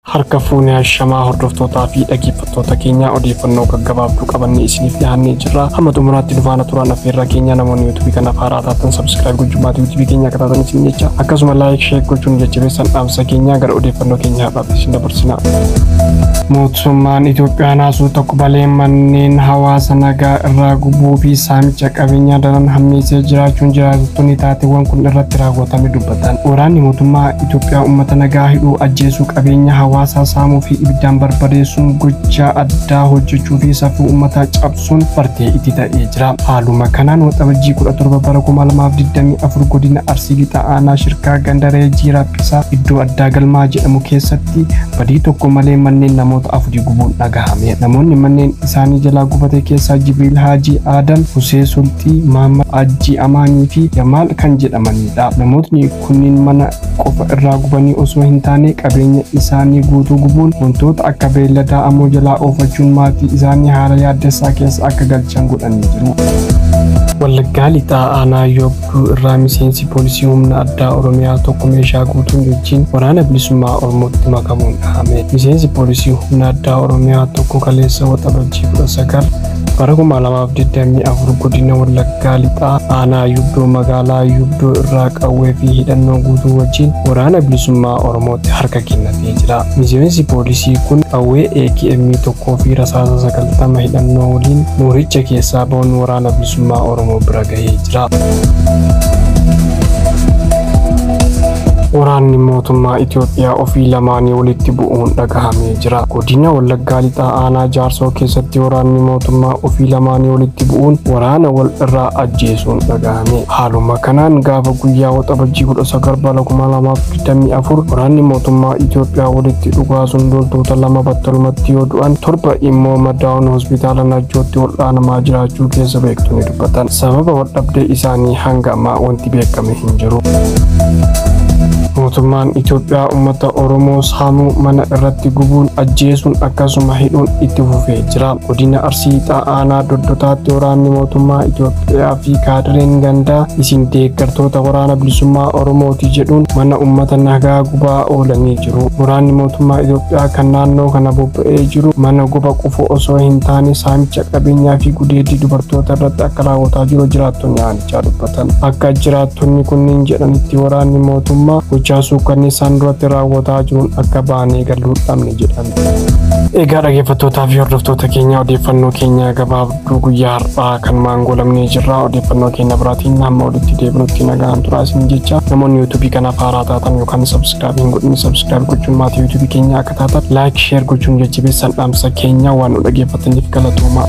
Harka fuune hashamaa hordoftootaa fi dhageeffattoota keenya odeeffannoo gaggabaabduu qabannee isiniif dhiyaannee jirra. Hamma xumuraatti nu faana turaan affeerraa keenya namoonni yuutuubii kanaaf haaraa taatan sabskiraayib gochuun maatii yuutuubii keenyaa akka taatan isin jecha akkasuma laayik sheek gochuun nu jajjabeessan dhaamsa keenya gara odeeffannoo keenya har'aatti isin dabarsina. Mootummaan Itoophiyaa naasuu tokko balee manneen hawaasa nagaa irraa gubuu fi saamicha qabeenyaa daran hammeessee jiraachuun jiraattonni taateewwan kun irratti raawwatame dubbatan. Kan waraanni mootummaa Itoophiyaa uummata nagaa hidhuu, ajjeesuu, qabeenya hawaasaa saamuu fi ibiddaan barbadeessuun gochaa addaa hojjechuu fi safuu uummataa cabsuun bartee itti ta'ee jira. Haaluma kanaan Waxabajjii 17 bara 2024 godina Arsii Lixaa aanaa Shirkaa ganda Ree Jiiraa Phisaa iddoo addaa Galmaa jedhamu keessatti badii tokko malee manneen namoota afurii gubuun dhagahame. Namoonni manneen isaanii jalaa gubate keessaa Jibriil Haajii Aadam, Husee Sulxii, Mahammad Haajjii Amaanii fi Jamaal kan jedhamani. Namootni kunniin mana qofa irraa gubanii osoo hin taane qabeenya isaanii guutuu gubuun wantoota akka beelladaa ammoo jalaa oofachuun maatii isaanii haala yaaddessaa keessa akka galchan godhanii jiru. Wallaggaa Lixaa Aanaa Yoobduu irraa miseensi poolisii humna addaa Oromiyaa tokko meeshaa guutuun jechiin waraana bilisummaa Oromootti makamuun dhahame. Miseensi poolisii humna addaa Oromiyaa tokko kaleessa waxabajjii 19 Bara 2024 godina Wallaggaa Lixaa aanaa Yuuddoo magaalaa Yuuddoo irraa qawwee fi hidhannoo guutuu wajjin waraana bilisummaa Oromootti harka kennatee jira. Miseensi poolisii kun qawwee AKM tokkoo fi rasaasa sagaltama hidhannoo waliin mooricha keessaa ba'uun waraana bilisummaa Oromoo bira gahee jira. Waraanni mootummaa Itoophiyaa ofii lamaanii walitti bu'uun dhagahamee jira. Godina Wallaggaa Lixaa Aanaa Jaarsoo keessatti waraanni mootummaa ofii lamaanii walitti bu'uun waraana wal irraa ajjeesuun dhagahame. Haaluma kanaan gaafa guyyaa waxabajjii 19 bara 2024 waraanni mootummaa Itoophiyaa walitti dhugaasuun loltoota lama battalumatti yoo du'an torba immoo madaa'uun hospitaala Najjootti wal'aanamaa jiraachuu keessa beektonni dubbatan. Sababa waldhabdee isaanii hanga ammaa wanti beekame hin jiru. Mootummaan Itoophiyaa uummata Oromoo Haamuu mana irratti gubuun ajjeesuun akkasuma hidhuun itti fufee jira. Godina Arsii Lixaa Aanaa Doddotaatti waraanni mootummaa Itoophiyaa fi kaadireen gandaa isin deeggartoota waraana bilisummaa Oromooti jedhuun mana uummata nagaa gubaa oolanii jiru. Waraanni mootummaa Itoophiyaa kan naannoo kana bobba'ee jiru mana guba qofoo osoo hin taane saamicha qabeenyaa fi gudeeddii dubartoota irratti akka raawwataa jiru jiraattonni aanu. jechaa dubbatan. Akka jiraattonni kunniin jedhanitti waraanni mootummaa gochaa suukkanneessaan duratti raawwataa jiruun akka baanee galuu dhabne jedhan. Egaa dhaggeeffattootaa fi hordoftoota keenya odeeffannoo keenya gabaabduu guyyaa har'aa kan maangoolamnee jirra. Odeeffannoo keenya biraatiin hamma walitti deebinutti nagaan turaa isin jecha namoonni yuutuubii kanaaf haaraa taatan yookaan sabskiraayib hin godhin sabskiraayib gochuun maatii yuutuubii keenya akka taatan laayik sheer gochuun jajjabeessan dhaamsa keenya waan nu dhaggeeffatan. isiniif galatoomaa.